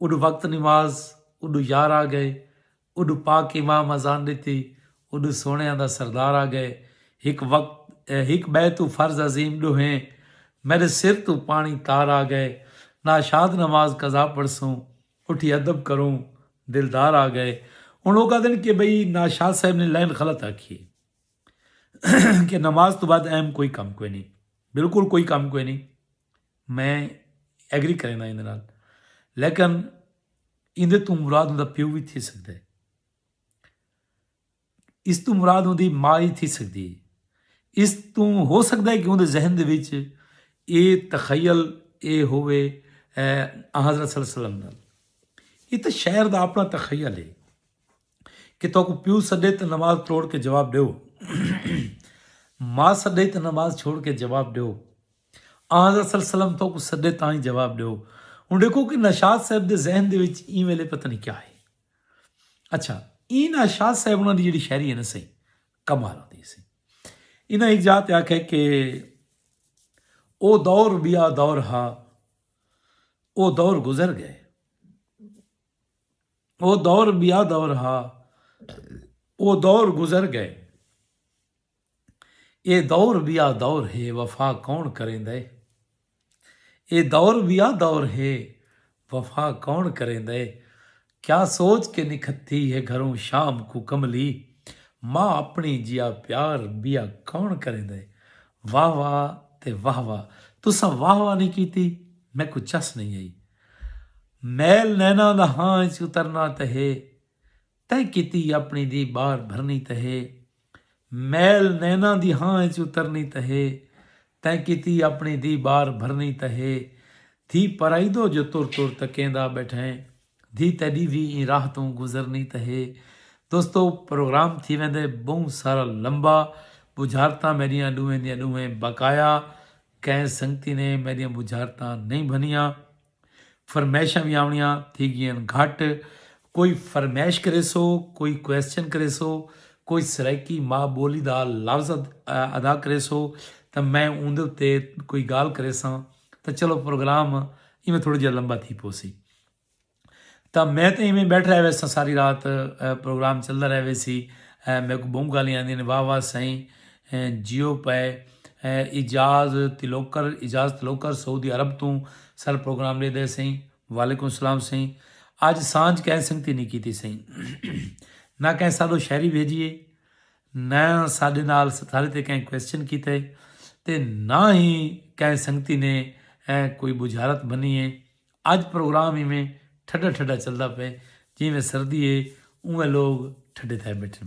S1: اڈو وقت نماز اڈو یار آ گئے اڈو پاک امام اذان ڈتی اڈو سوہنیاں دا سردار آ گئے ہک وقت ہک بئے توں فرض عظیم ڈوہیں میڈے سر توں پانی تار آ گئے ناشاد نماز قضا پڑھسوں اٹھی ادب کروں دلدار آ گئے ہن اوہ کہدن کہ بھئی ناشاد صاحب نے لائن غلط آکھی ہے کہ نماز توں بعد اہم کوئی کم کوئی نہیں بالکل کوئی کم کوئی نہیں میں ایگری کرینداں ایندے نال لیکن ایندے توں مراد اوندا پیو وی تھی سگدا ہے۔ اس توں مراد اوندی ماء ای تھی سگدی ہے۔ اس توں ہو سگدا ہے کہ اوندے ذہن دے وچ اے تخیل اے ہووے آنحضرت صلی اللہ علیہ وسلم نال۔ اے تاں شاعر دا اپنا تخیل ہے۔ کہ تہاکوں پیو سݙے تاں نماز تروڑ کے جواب ݙیو، ماء سݙے تاں نماز چھوڑ کے جواب ݙیو، آنحضرت صلی اللہ علیہ وسلم تہاکوں سݙے تاں ای جواب ݙیو۔ ہݨ ݙیکھو کہ نوشاد صاحب دے ذہن دے وچ ایں ویلے پتہ نی کیا ہے۔ اچھا ایں نوشاد صاحب انہاں دی جیڑھی شاعری ہے نا سئیں کمال ہوندی ہے سئیں۔ انہاں ہک جاہ تے آکھیا کہ او دور ٻیا دور ہا او دور گزر ڳئے۔ او دور بیا دور ہا او دور گزر گئے اے دور بیا دور ہے وفا کون کریندے اے دور بیا دور ہے وفا کون کریندے کیا سوچ کے نکھتی ہے گھروں شام کو کملی ماں اپنی جیا پیار بیا کون کریندے واہ واہ تے واہ واہ تساں واہ واہ نہیں کیتی میکوں چس نہیں آئی میل نیناں دا ہاں اچ اترنا تہ ہے تیں کیتی اپنی دی بار بھرنی تہ ہے میل نیناں دی ہاں اچ اترنی تہ ہے تیں کیتی اپنی دی بار بھرنی تہ ہے دھی پرائیدو جو تر تر تکیندا بیٹھیں دھی تیڈی وی ایں راہ توں گزرنی تہ ہے دوستو پروگرام تھی ویندے بہوں سارا لمبا بجھارتاں میڈیاں ڈوہیں دیاں ڈوہیں بقایا کہیں سنگتی نے میڈیاں بجھارتاں نہیں بھنیاں فرمائشاں وی آونڑیاں تھی گیئن گھٹ کوئی فرمائش کریسو کوئی کوئسچن کریسو کوئی سرائیکی ماء بولی دا لفظ ادا کریسو تاں میں اوندے اتے کوئی گال کریساں تاں چلو پروگرام ایویں تھوڑا جہا لمبا تھی پوسی تاں میں تے ایویں بیٹھ رہے ویسا ساری رات پروگرام چلدا رہے ویسی میرے کو بہوں گالیاں آندیاں نے واہ واہ سائیں جیو پئے، اعجاز تلوکر، اعجاز تلوکر سعودی عرب توں سر پروگرام ݙے دے سئیں، وعلیکم السلام سئیں، اج سانجھ کئیں سنگتی نی کیتی سئیں، نہ کئیں ساݙو شاعری بھیڄی اے، نہ ساݙے نال ساݙے تے کئیں کوسچن کیتا اے تے نہ ہی کئیں سنگتی نے کوئی ٻجھارت بھنی اے، اج پروگرام ایویں ٹھڈا ٹھڈا چلدا پئے جیویں سردی اے اونویں لوک ٹھڈے تھئے ٻیٹھن۔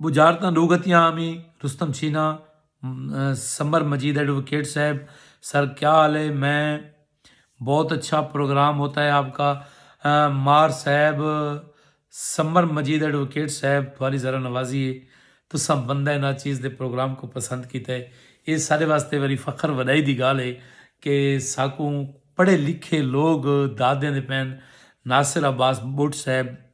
S1: بجارتاں ڈو گھتیاں آمی رستم چھینا سمر مجید ایڈووکیٹ صاحب سر کیا حال ہے میں بہت اچھا پروگرام ہوتا ہے آپ کا مار صاحب سمر مجید ایڈووکیٹ صاحب تھوڑی ذرا نوازی ہے تساں بندہ نا چیز دے پروگرام کو پسند کیتا ہے یہ سارے واسطے وری فخر وڈائی دی گال ہے کہ ساکوں پڑھے لکھے لوگ دادیں دے پین ناصر عباس بٹ صاحب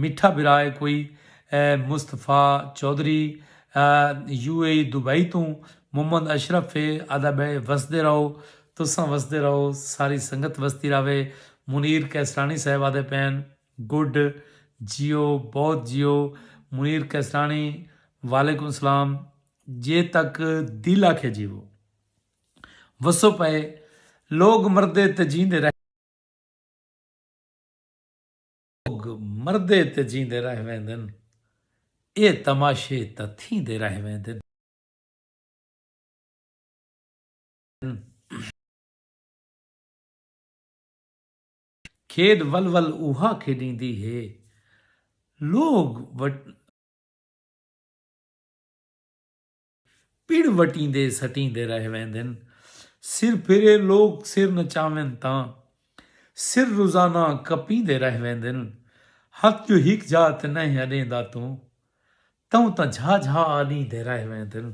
S1: میٹھا بھرا اے کوئی اے Mustafa Chaudhry U A E Dubai توں محمد اشرف اے آدا بے وسدے رہو تساں وسدے رہو ساری سنگت وسدی رہوے منیر قیصرانی صاحب آدے پین گڈ جیو بہت جیو منیر قیصرانی وعلیکم السلام جے تک دل آکھے جیوو وسو پئے لوگ مردے تے جیندے رہندے۔ لوگ مردے تے جیندے رہ ویندن اے تماشے تاں تھیندے رہ ویندن۔ کھیݙ ول ول اوہا کھیݙیندی ہے لوگ۔ پڑ وٹیندے سٹیندے رہ ویندن۔ سر پھرے لوک سر نچاون تاں۔ سر روزانہ کپیندے رہ ویندن۔ ہتھ جو ہک جھا تے نئیں اڈیندا توں۔ توں تاں جھا جھا اڈیندے رہ ویندن۔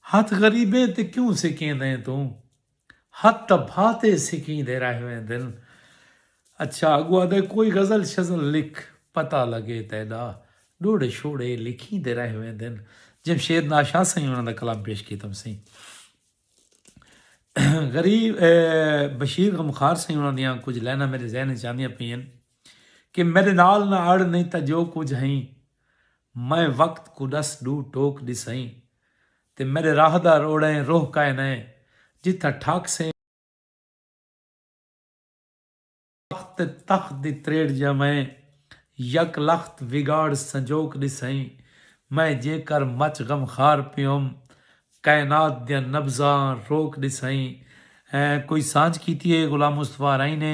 S1: ہتھ غریبیں تے کیوں سکیندیں توں۔ ہتھ تاں بھاتے سکیں دے رہ ویندن۔ اچھا اگو آدھے کوئی غزل شزل لکھ پتہ لگے تیڈا ڈوڑے شوڑے لکھیں دے رہ ویندن۔ جمشید ناشاہ سئیں انہاں دا کلام پیش کیتم سئیں۔ غریب بشیر غمخوار سئیں انہاں دیاں کچھ لائناں میڈے ذہن وچ آندیاں پئین کہ میڈے نال نہ اڑ نہیں تاں جو کچھ ہئیں میں وقت کوں ڈس ڈو ٹوک ڈسئیں تے میݙے راہدار اوڑئیں روہ کائے نئیں جتھاں ٹھاک سئیں۔ تخت تے تخت دی تریڑ جیوئیں یک لخت وگاڑ سنجوک ݙسئیں۔ میں جیں کر مچ غم خار پیوم کائنات دیاں نبضاں روک ݙسئیں۔ کوئی سانجھ کیتی ہے غلام مصطفی ارائیں نے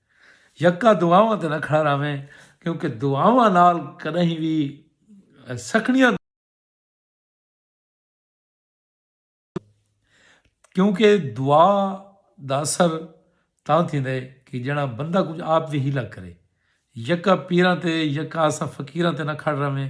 S1: یکا دعاواں تے نہ کھڑا رہویں کیونکہ دعاواں نال کݙاہیں وی سکھڑیاں دور کیونکہ دعا دا اثر تاں تھیندا ہے کہ جݙاں بندہ کجھ آپ وی حیلہ کرے یکا پیراں تے یکا اساں فقیراں تے نہ کھڑ رہویں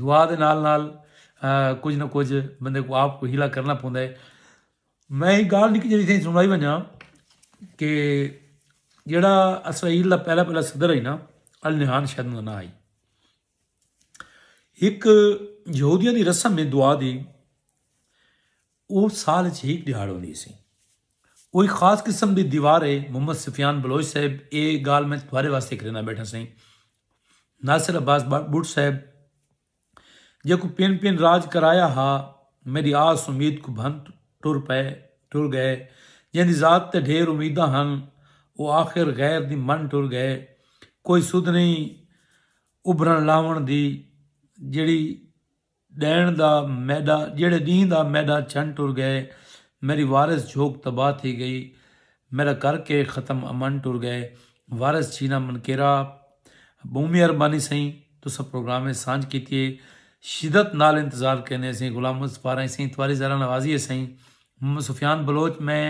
S1: دعا دے نال نال کجھ نہ کجھ بندے کوں آپ کوں حیلہ کرنا پوندا ہے۔ میں ہک گالھ نکی جیہی تساں کوں سنڑائی ونجاں کہ جیہڑا اسرائیل دا پہلا پہلا صدر ہئی نا النہان شاید اوندا ناں ہئی۔ ہک یہودیاں دی رسم ہے دعا دی او سال اچ ہک دیہاڑ ہوندی سی۔ او ہک خاص قسم دی دیوار ہے محمد سفیان بلوچ صاحب اے گالھ میں تہاڈے واسطے کرنا بیٹھا سئیں۔ ناصر عباس بٹ صاحب جیکوں پن پن راج کرایا ہا میڈی آس امید کوں بھن ٹر پئے ٹر گئے جیندی ذات تے ڈھیر امیداں ہن او آخر غیر دی من ٹر گئے کوئی سدھ نہیں ابھرن لاون دی جیڑھی ݙینہہ دا میݙا جیڑھے ݙینہہ دا میݙا چھن ٹر ڳئے میݙی وارث جھوک تباہ تھی ڳئی میݙا کر کے ختم امن ٹر ڳئے وارث چھینا من کیرا ٻہوں مہربانی سئیں تساں پروگرام اچ سانجھ کیتی ہے شدت نال انتظار کریندے ہسئیں غلام محمد سپارائیں سئیں تواری ذرا نوازی ہے سئیں محمد سفیان بلوچ میں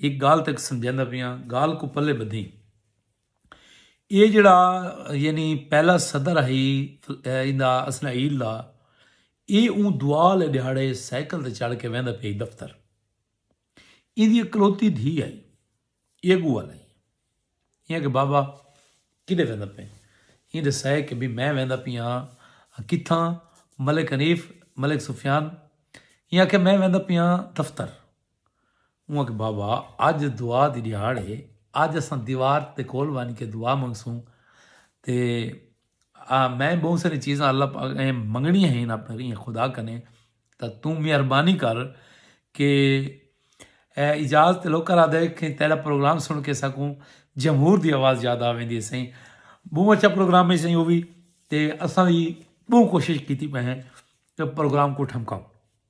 S1: ہک ڳالھ تک سمجھیندا پیاں ڳالھ کوں پلے ٻدھیں۔ ایہ جیڑھا یعنی پہلا صدر ہئی ایندا اسنعیل دا ایہ اوں دعا آلے ڈیہاڑے سائیکل تے چڑھ کے ویندا پئی دفتر ایندی اکلوتی دھی آئی ایہ گو آلائی ایہ کہ بابا کدے ویندا پئے ایندے سائے کہ بھی میں ویندا پئی ہاں کتھاں ملک حنیف ملک سفیان ایہ کہ میں ویندا پئی ہاں دفتر اوں آکھیا بابا اج دعا دی ڈیہاڑ ہے اج اساں دیوار دے کول ونج کے دعا منگسوں تے میں بہوں ساری چیزاں اللہ پاک ایں منگنیاں ہیں اپنے ایں خدا کنے تا توں مہربانی کر کہ اے اجاز تے لوکاں آدھے کہ تیرا پروگرام سن کے سکوں جمہور دی آواز یاد آویندی ہے سائیں بہوں اچھا پروگرام ہے سائیں او وی تے اساں وی بہوں کوشش کیتی پئے ہیں کہ پروگرام کو ٹھمکاؤں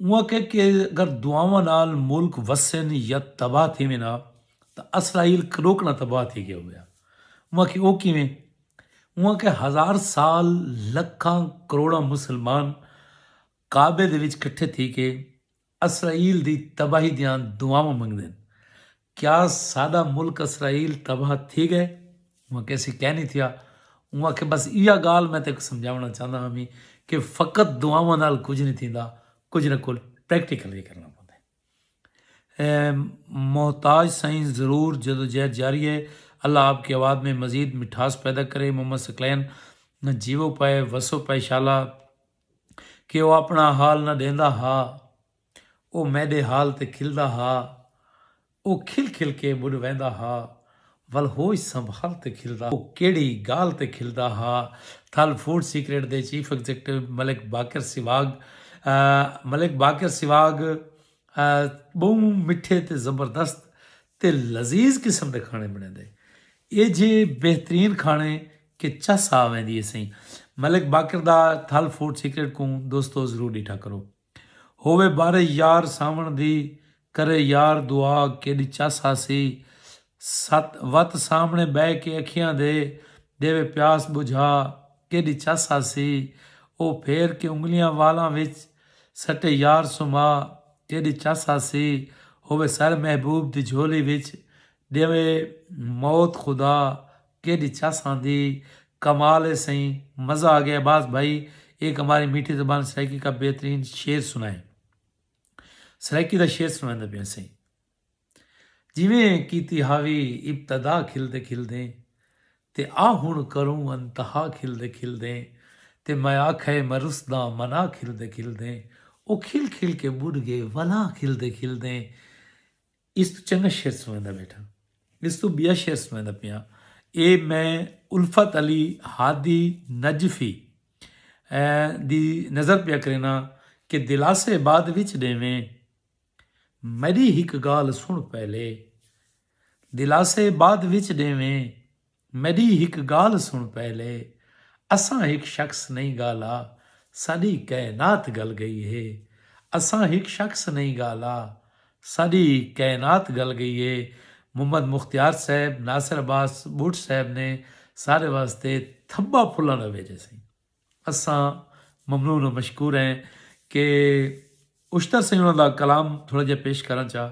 S1: اوں آکھیا کہ اگر دعاواں نال ملک وسن یا تباہ تھیون ہا تاں اسرائیل کݙوکݙاں تباہ تھی ڳیا ہویا۔ اوں آکھیا او کیویں؟ اوں آکھیا ہزار سال لکھاں کروڑاں مسلمان کعبے دے وچ کٹھے تھی کے اسرائیل دی تباہی دیاں دعاواں منگدن کیا ساڈا ملک اسرائیل تباہ تھی گئے؟ اوہاں کہے سی کئے نی تھیا۔ اوہاں آکھے بس ایہا گالھ میں تیکوں سمجھاونڑاں چاہنداں ہاں وی کہ فقط دعاواں نال کجھ نی تھیندا کجھ نہ کجھ پریکٹیکل وی کرنڑاں پوندے۔ محتاج سائیں ضرور جدوجہد جاری ہے اللہ آپ کی آواز میں مزید مٹھاس پیدا کرے محمد ثقلین جیوو پئے وسو پئے شالا کہ او اپنڑا حال نہ ڈیندا ہا۔ او میݙے حال تے کھلدا ہا۔ او کھل کھل کے ٻݙ ویندا ہا۔ ول ہوش سنبھال تے کھلدا ہا۔ او کیڑھی ڳالھ تے کھلدا ہا۔ تھل فوڈ سیکرٹ دے چیف ایگزیکٹو ملک باقر سیواگ ملک باقر سیواگ ٻہوں مٹھے تے زبردست تے لذیذ قسم دے کھاݨے بݨیندے۔ ایجھے بہترین کھاݨے کہ چس آ ویندی ہیسئیں۔ ملک باقر دا تھل فوڈ سیکرٹ کوں دوستو ضرور ݙٹھا کرو۔ ہووے بارے یار ساوݨ دی کرے یار دعا کیݙی چس ہاسی ست وت سامݨے ٻہہ کے اکھیاں دے ݙیوے پیاس ٻجھا کیݙی چس ہاسی او پھیر کے انگلیاں والاں وچ سٹے یار سمھا کیݙی چس ہاسی ہووے سر محبوب دی جھولی وچ ݙیوے موت خدا کیڈی چس آندی کمال ہے سئیں مزہ آ گیا عباس بھائی ایک ہماری میٹھی زبان سرائیکی کا بہترین شعر سنائیں سرائیکی دا شعر سنائیندے پیا سئیں جویں کیتی ہاوی ابتدا کھلدے کھلدے تے آ ہن کروں انتہا کھلدے کھلدے تے میں آکھئے میں رسدا منا کھلدے کھلدے او کھل کھل کے بڈھ گئے ولا کھلدے کھلدے اس توں چنگا شعر سنڑیندا بیٹھاں۔ اس توں بیا شعر سنڑیندا پیاں۔ اے میں الفت علی ہادی نجفی دی نظر پیا کرینا کہ دلاسے بعد وچ ڈیویں۔ میڈی ہک گالھ سنڑ پہلے۔ دلاسے بعد وچ ڈیویں۔ میڈی ہک گالھ سن پہلے اساں ہک شخص نہیں گالھا ساڈی کائنات گل گئی ہے اساں ہک شخص نہیں گالھا ساڈی کائنات گل گئی ہے محمد مختیار صاحب ناصر عباس بٹ صاحب نے سارے واسطے تھبا پھلن دا ویجے سئیں۔ اساں ممنون و مشکور ہیں کہ اشتر سئیں انہاں دا کلام تھوڑا جیہا پیش کرݨ چا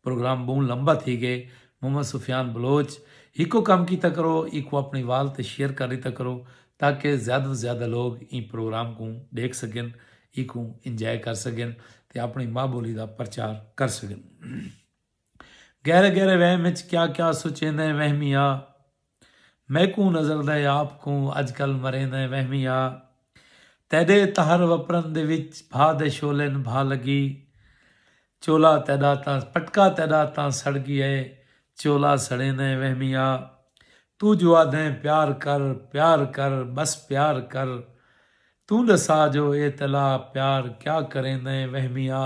S1: پروگرام ٻہوں لمبا تھی ڳئے محمد سفیان بلوچ ہکو کم کیتا کرو ایکوں اپݨی وال تے شیئر کر ݙتا کرو تاکہ زیادہ توں زیادہ لوگ ایں پروگرام کوں ݙیکھ سڳن ایکوں انجوائے کر سڳن تے اپݨی ماء ٻولی دا پرچار کر سڳن۔ گہرے گہرے وہم اچ کیا کیا سوچیندیں وہمی آ میکوں نظر دے آپ کوں اج کل مریندیں وہمی آ تیڈے تہر وپرن دے وچ بھا دے شعلین بھا لگی چولا تیڈا تاں پٹکا تیڈا تاں سڑ گی اے چولا سڑیندیں وہمی آ توں جو آدھیں پیار کر پیار کر بس پیار کر توں ڈسا جو اے تلا پیار کیا کریندیں وہمی آ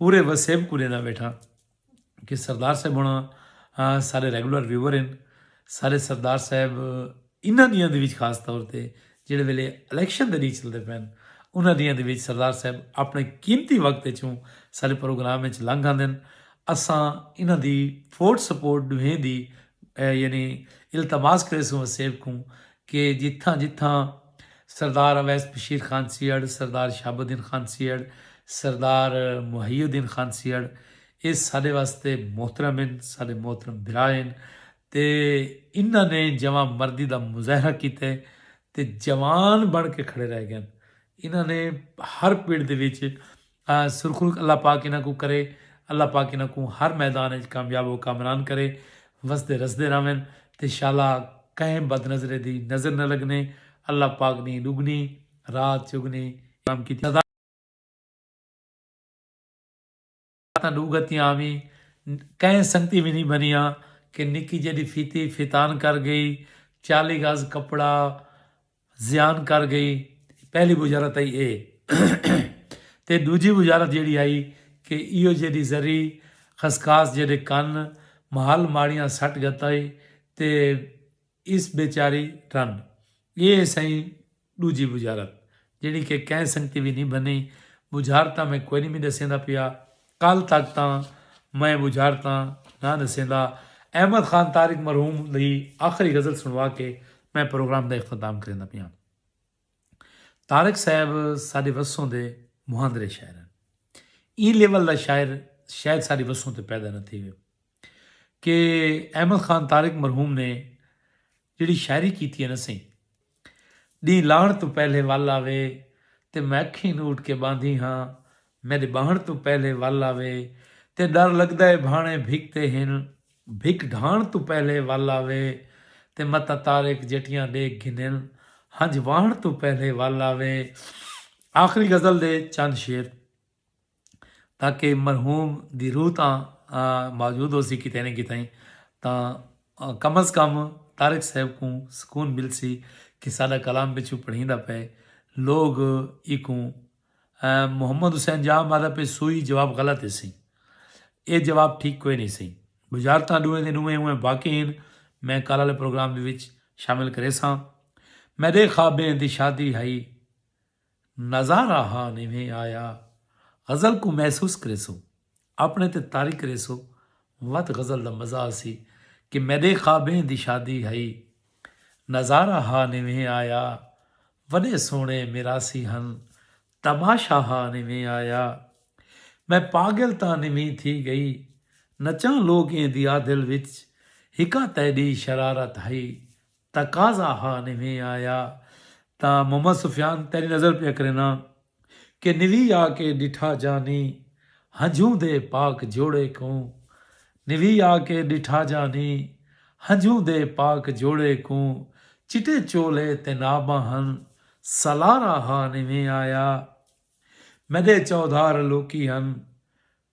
S1: پورے وسیب کوں ݙیندا ویٹھاں کہ سردار صاحب ہونا سارے ریگولر ویور ہیں سارے سردار صاحب انہاں دیاں دے وچ خاص طور تے جڑے ویلے الیکشن دے ڈینہہ چلدے پئے ہیں انہاں دیاں دے وچ سردار صاحب اپنے قیمتی وقت وچوں سارے پروگرام وچ لنگھ آندے ہیں اساں انہاں دی فوٹ سپورٹ ڈوہیں دی یعنی التماس کریسوں وسیب کوں کہ جتھاں جتھاں سردار اویس بشیر خان سیہڑ، سردار شہاب الدین خان سیہڑ، سردار محی الدین خان سیہڑ اے ساڈے واسطے محترم ہن، ساڈے محترم بھرا ہن تے انہاں نے جواں مردی دا مظاہرہ کیتے تے جوان بن کے کھڑے رہ گئن۔ انہاں نے ہر پڑ دے وچ سرخرو اللہ پاک انہاں کوں کرے اللہ پاک انہاں کوں ہر میدان اچ کامیاب و کامران کرے وسدے رسدے رہون تے شالا کہیں بد نظرے دی نظر نہ لگنے اللہ پاک نیں ڈگنی رات چگنی انعام کیتی سزا تاں ڈو گھتیاں آویں کہیں سنگتی وی نیں بنیاں کہ نکی جیڈی فیتی فیتان کر گئی چالی گز کپڑا زیان کر گئی پہلی وزارت آئی اے تے ڈوجھی وزارت جیڑی آئی کہ ایو جیڈی زری خسخاس جیڈے کن محل ماڑیاں سٹ گتائی تے اس بیچاری رن اے سائیں ڈوجھی وزارت جیڑی کہ کہیں سنگتی وی نی بنی وزارتاں میں کوئی نی می ڈسیندا پیا کل تک تاں میں بجھارتاں نہ نسیندا۔ احمد خان طارق مرحوم دی آخری غزل سنڑوا کے میں پروگرام دا اختتام کریندا پیاں۔ طارق صاحب ساڈے وسوں دے مہاندرے شاعر ہن۔ ایں لیول دا شاعر شاید ساڈے وسوں تے پیدا نہ تھیوے۔ کہ احمد خان طارق مرحوم نے جیڑھی شاعری کیتی ہے نہ سئیں۔ ݙینہہ لاہݨ توں پہلے ول آوے تے میں اکھیں نوٹ کے ٻاندھی ہاں میݙے ٻاہݨ توں پہلے ول آوے تے ݙر لڳدا اے بھاݨے بھک تے ہن بھک ڈھاݨ توں پہلے ول آوے تے متاں طارق جٹیاں ݙیکھ گھنن ہنج واہݨ توں پہلے ول آوے آخری غزل دے چند شعر۔ تاکہ مرحوم دی روح تاں موجود ہوسی کتھے نہ کتھے تاں کم از کم طارق صاحب کوں سکون ملسی کہ ساڈا کلام پچھوں پڑھیندا پئے لوگ ایکوں محمد حسین جاہ مادا پہ سوئی جواب غلط ہے سی اے جواب ٹھیک کوئی نہیں سی بجارتاں ڈوئیں دے ڈوئیں ہوئیں واقع ہیں میں کال والے پروگرام دے وچ شامل کرے ساں میڈے خوابیں دی شادی ہائی نظارہ ہا نیویں آیا غزل کوں محسوس کریسو اپنے تے طاری کریسو وت غزل دا مزہ آسی کہ میڈے خوابیں دی شادی ہئی نظارہ ہا نیویں آیا وڈے سوہنے میراسی ہن تماشہ ہا نیویں آیا میں پاگل تاں نیویں تھی گئی نچاں لوکیں دی آدھل وچ ہکا تیڈی شرارت ہئی تقاضا ہا نویں آیا تاں محمد سفیان تیݙی نظر پیا کرینداں کہ نوی آ کے ݙٹھا جانی ہنجھوں دے پاک جوڑے کوں نوی آ کے ݙٹھا جانی ہنجھوں دے پاک جوڑے کوں چٹے چولے تے ناباں ہن سالارا ہا نویں آیا میݙے چودھار لوکی ہن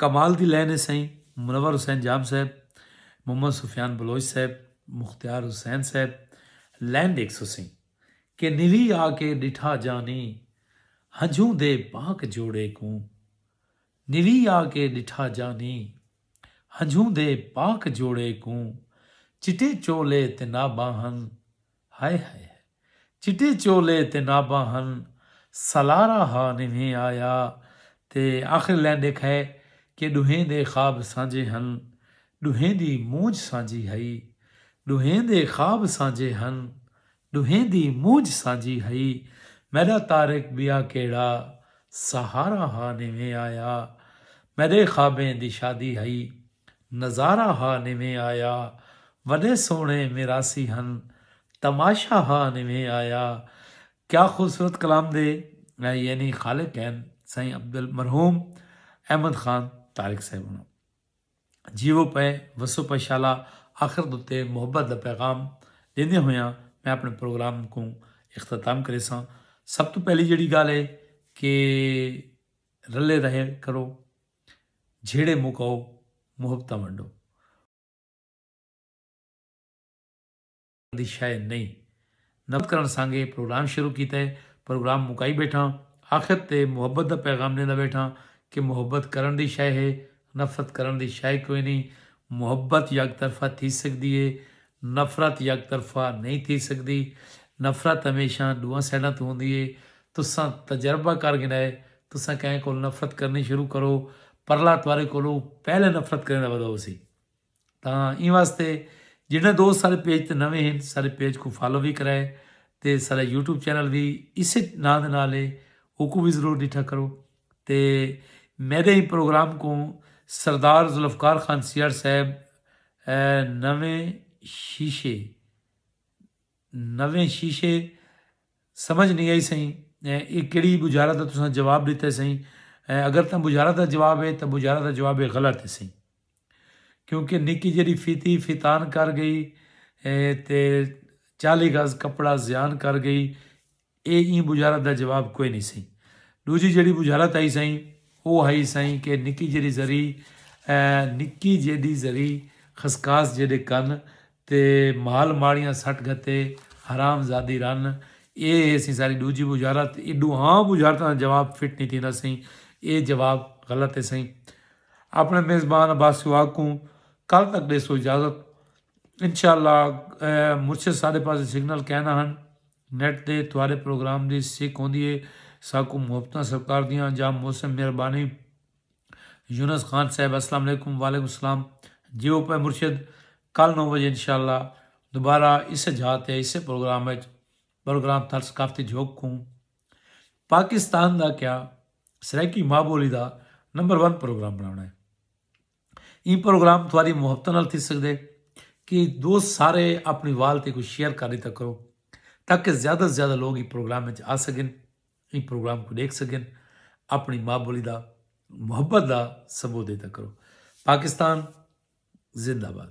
S1: کمال دی لائن ہے سائیں منور حسین جام صاحب، محمد سفیان بلوچ صاحب، مختیار حسین صاحب لائن ڈیکھسو سیں کہ نیلی آ کے ڈٹھا جانی ہنجھوں دے پاک جوڑے کوں نیلی آ کے ڈٹھا جانی ہنجھوں دے پاک جوڑے کوں چٹے چولے تے نہ باہن ہائے ہائے ہائے چٹے چولے تے ناباں ہن سالارا ہا نوہیں آیا تے آخر لین ڈیکھائے کہ ڈوہیں دے خواب سانجھے ہن ڈوہیں دی مونجھ سانجھی ہئی ڈوہیں دے خواب سانجھے ہن ڈوہیں دی مونجھ سانجھی ہئی میڈا طارق بیا کیڑا سہارا ہا نوہیں آیا میڈے خوابیں دی شادی ہئی۔ نظارہ ہا نویں آیا وݙے سوہݨے میراثی ہن تماشہ ہا نویں آیا کیا خوبصورت کلام دے یعنی خالق ہن سائیں عبدال مرحوم احمد خان طارق صاحب ہوں جیو پے وسو پے شالا آخر دتے محبت دا پیغام دیندے ہویاں میں اپنے پروگرام کو اختتام کرے ساں سب تو پہلی جڑی گال ہے کہ رلے رہے کرو جھیڑے مکاؤ محبتاں ونڈو۔ دی شئے نئیں۔ نفرت کرݨ سانگے پروگرام شروع کیتا ہے۔ پروگرام مکائی بیٹھاں۔ آخر تے محبت دا پیغام ݙیندا بیٹھاں کہ محبت کرݨ دی شئے ہے۔ نفرت کرݨ دی شئے کوئنی۔ محبت یک طرفہ تھی سڳدی ہے۔ نفرت یک طرفہ نئیں تھی سڳدی، نفرت ہمیشاں ݙوہاں سائیڈاں توں ہوندی ہے، تساں تجربہ کر گھنڑا ہے، تساں کہیں کولھ نفرت کرݨی شروع کرو، پرلا تہاݙے کولھوں پہلے نفرت کرݨ دا وعدہ ہوسی، تاں ایں واسطے جݙاں دوست ساݙے پیج تے نویں ہن ساݙے پیج کوں فالو وی کرائے تے ساݙا یوٹیوب چینل وی اسے ناں دے نال ہے اوکوں وی ضرور ݙٹھا کرو۔ تے میݙے ایں پروگرام کوں سردار ذوالفقار خان سیال صاحب نویں شیشے نویں شیشے سمجھ نی آئی سئیں اے کیڑی بجارت دا تساں جواب ݙتے سئیں اگر تاں بجارت دا جواب اے تاں بجارت دا جواب اے غلط اے سئیں کیونکہ نکی جیڑھی فیتی فیتان کر ڳئی تے چالی گز کپڑا زیان کر ڳئی۔ اے ایں بجھارت دا جواب کوئے نی سئیں۔ ڈوجھی جیڑھی بجھارت ہئی سئیں او ہئی سئیں کہ نکی جیڑھی ذری نکی جیڈھی ذری خسکاس جیڈھے کن تے مال ماڑیاں سٹ گھتے حرام زادی رن اے ہے سئیں ساڈی ڈوجھی بجھارت اے ڈوہاں بجھارتاں دا جواب فٹ نی تھیندا سئیں اے جواب غلط ہے سئیں۔ آپنڑے میزبان عباس سواگ کوں کل تک ڈیسو اجازت انشاءاللہ مرشد ساڈے پاسے سگنل کائنا ہن۔ نیٹ تے تہاݙے پروگرام دی سک ہوندی ہے ساکوں محبتاں سرکار دیاں جا محسن مہربانی یونس خان صاحب السلام علیکم وعلیکم السلام جی او پے مرشد کل نو بجے انشاءاللہ دوبارہ اسے جھا تے اسے پروگرام وچ پروگرام تھل ثقافتی جھوک کوں پاکستان دا کیا سرائیکی ماں بولی دا نمبر ون پروگرام بناونا ہے ایں پروگرام تہاڈی محبتاں نال تھی سگدے کہ دوست سارے اپنی وال تے کوئی شیئر کر دیتا کرو تاکہ زیادہ سے زیادہ لوگ ایں پروگرام وچ آ سگن ایں پروگرام کو دیکھ سگن اپنی ماں بولی دا محبت دا ثبوت دیتا کرو پاکستان زندہ باد